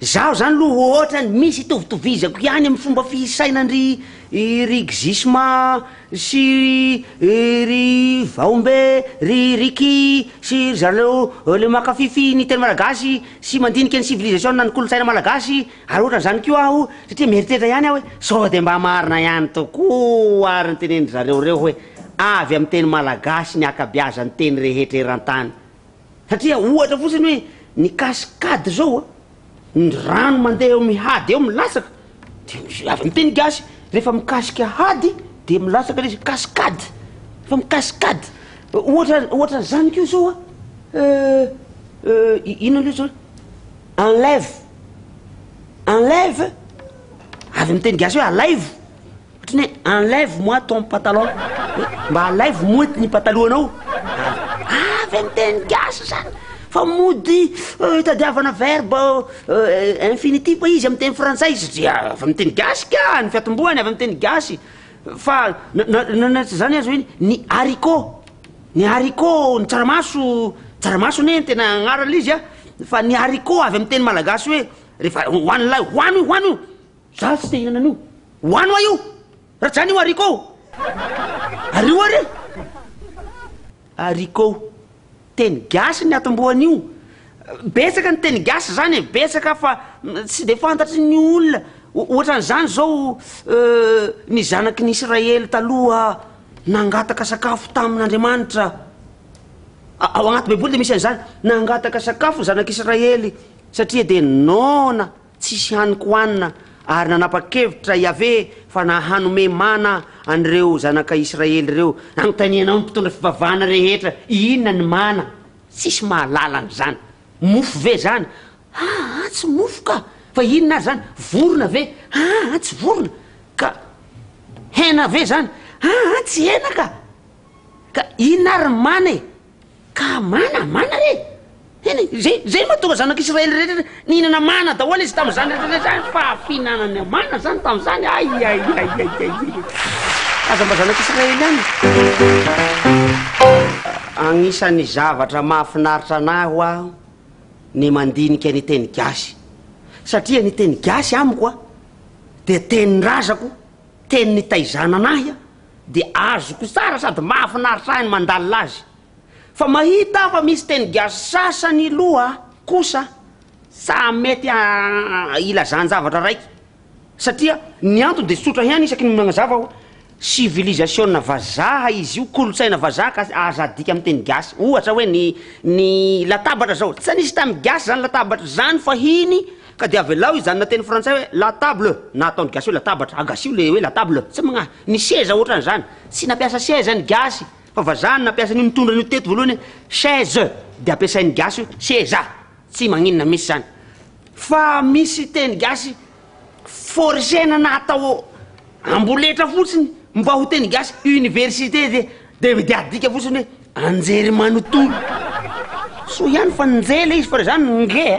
Zaho zany loha hoatran misy itovitovizako ihany am fomba fisaina ndry rixisma sy ry vaombe ry ricky sy ry zareo le makafify ny teny malagasy sy mandinika ny civilisation na ny kolontsaina malagasy ary ohatran zany koa aho satria mieritreritra ihany aho hoe sao de mba marina ihany tokoa ary ny tenendry zareo reo hoe avy am teny malagasy ny akabiazan teny rehetra eran tany Satria ohatra fotsiny hoe ny cascade zao a, ny rano mandeha eo amin'ny hady eo milatsaka de avy amin'ny teny gasy rehefa mikasika hady de milatsaka ilay izy, cascade, fa mi cascade, ohatra ohatra an'izany koa zao a, inona loatra zany, enlève, enlève avy amin'ny teny gasy hoe alaivo. Ohatry ny hoe enlève moi ton patalon hoe mba alaivo moa eto ny patalohanao avy amin'ny teny gasy zany fa mody tadiavana verbe infinitif izy amin'ny teny frantsay satria avy amin'ny teny gasy ka ny fiatombohany avy amin'ny teny gasy fa na- na- na tsy zany aza hoe ny haricot ny haricot ny tsaramaso tsaramaso anie ny tena agnarana l'izy a fa ny haricot avy amin'ny teny malagasy hoe rehefa hohanin'lay hohano io hohano io Zaho tsy te hihinana an'io. Ho any hoa io! Rajany io haricot o! Ary io ary e! Haricot. Teny gasy ny atombohan'io. Betsaka ny teny gasy izany e, betsaka fa tsy dia fantatry ny olona. Ohatran'izany izao, ny zanaky ny Israely taloha nangataka sakafo tamin'Andriamanitra. Ao anaty Baiboly dia misy an'izany, nangataka sakafo ny zanak'Israely satria dia noana Tsisy haniko hohanina, ary nanapa-kevitra Iaveh fa na hanome mana an'ireo zanaka Israely ireo. Nanontanianao ny mpitondra fivavahana rehetra, Inona ny mana? Tsisy mahalala an'izany. Mofo ve izany? Aa tsy mofo ka! Fa inona ary izany? Vorona ve? Aa tsy vorona ka! Hena ve izany? Aa tsy hena ka! Ka inona ary ny mana e? Ka mana, mana re! Eny e, zay, zay no mahatonga zanak'Israely rehetra nihinana mana daholo izy tamin'izany rehetra izany fa fihinanana mana izany tamin'izany, aiaiaiaiaiaiai! Aza mba zanak'Israely ihany e! Agnisan'ny zavatra mahafinaritra anahy ho aho ny mandinika ny teny gasy satria ny teny gasy amiko dia tenin-drazako, teny nitaizana anahy Dia azoko tsara sady mahafinaritra ahy ny mandalina azy. Fa mahita aho fa misy teny gasy sasany loha kosa tsa mety hilazan-javatra raiky. Satria ny antony dia tsotra ihany isaky ny manazava aho, sivilizasiona vazaha izy io, kolontsaina vazaha ka aza adika amin'ny teny gasy. Ohatra hoe ny ny latabatra zao, tsa nisy tany gasy zany latabatra zany fahiny. Ka dia avelao izany na teny frantsay hoe la table na ataon'ny gasy hoe latabatra, agasio le hoe la table, tsy magnahy, ny seza ohatran'izany, tsy nampiasa seza ny gasy fa vazaha no nampiasa an'io nitondra an'io teto voalohany hoe chaise dia ampiasain'ny gasy hoe seza, tsy magninona mihitsy izany fa misy teny gasy forcena na atao amboletra fotsiny mba ho teny gasy, université dia. De dia adika fotsiny hoe anjery manontolo. Soa ihany fa nje le izy fa raha zany nge a!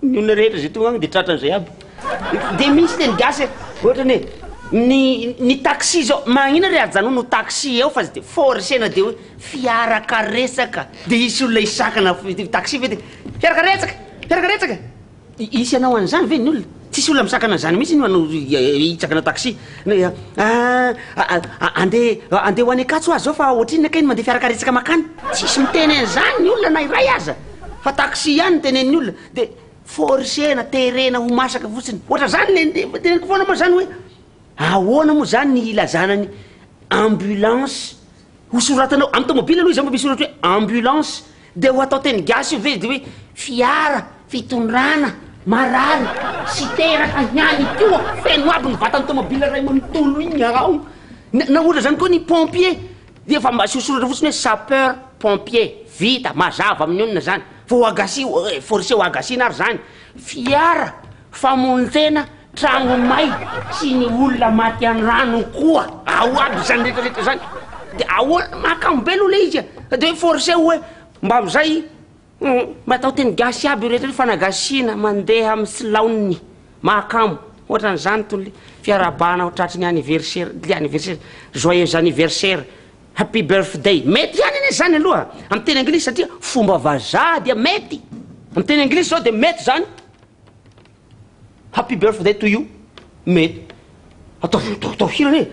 Ny olona rehetra zay tonga any de tratra an'izay aby. De misy teny gasy hoe ohatrany hoe ny ny taxi zao magnina re ajanony ho taxi eo fa tsy de forcena de hoe fiarakaretsaka de hisy olona hisakana f- taxi ve de fiarakaretsaka! Fiarakaretsaka! Hisy hanao an'izany ve ny olona? Tsisy olona misakana an'izany mihitsy ny manao hitsakana taxi. Ahh andeha andeha ho any Ankatso aho zao fa ohatrinona kay ny mandeha fiara karetsaka makany? Tsisy miteny an'izany ny olona na iray aza fa taxi ihany no tenenin'ny olona dia forcer-na, terena ho masaka fotsiny. Ohatran'izany le ny teneniko foana moa zany hoe ahoana moa zany ny hilazana ny ambulance? Ho soratanao amin'ny tomobily aloha izay mba misy soratra hoe ambulance dia ho atao teny gasy io ve dia hoe fiara fitondrana marary sy teraka ihany koa feno aby ny vatan'ny tomobily iray manontolo iny ao. Na, na ohatra izany koa ny pompier dia efa mba asio soratra fotsiny hoe sapeur pompier. Vita, mazava amin'ny olona izany. Fa ho agasi, eh, forcé ho agasiana ary izany. Fiara Famonontena, tragno may sy ny olona maty an rano koa. Ao aby izany rehetra rehetra izany de ahoana mahakamo be aloha le izy e de hoe forcé hoe mba amizay mba atao teny gasy aby io rehetra io fanagasiana mandeha amy tsy laoniny mahakamo ohatrany zany tony le fiarahabana ho tratry ny anniversaire le anniversaire joyeux anniversaire happy birthday mety ihany anie zany aloha amy teny anglisy satria fomba vazaha dia mety amy teny anglisy zao de mety zany Happy birthday to you me ataovy mitaotaoa hira anie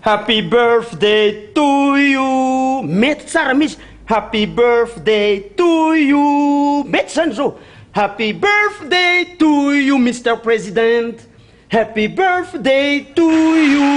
Happy birthday to you mety tsara mihitsy Happy birthday to you mety zany zao Happy birthday to you Mister President Happy birthday to you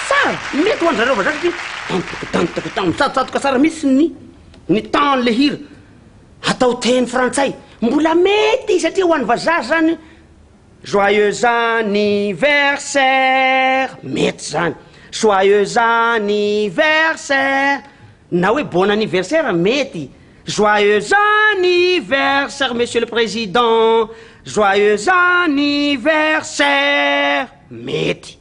tsara mety ho an'ny zareo vazaha satria dan-toko dan-toko dan-toko mitsatosatoka tsara mihitsy ny ny temps-n'le hira Atao teny frantsay. Mbola mety satria ho an'ny vazaha zany Joyeux anniversaire mety zany. Joyeux anniversaire na hoe bon anniversaire mety. Joyeux anniversaire monsieur le président. Joyeux anniversaire mety.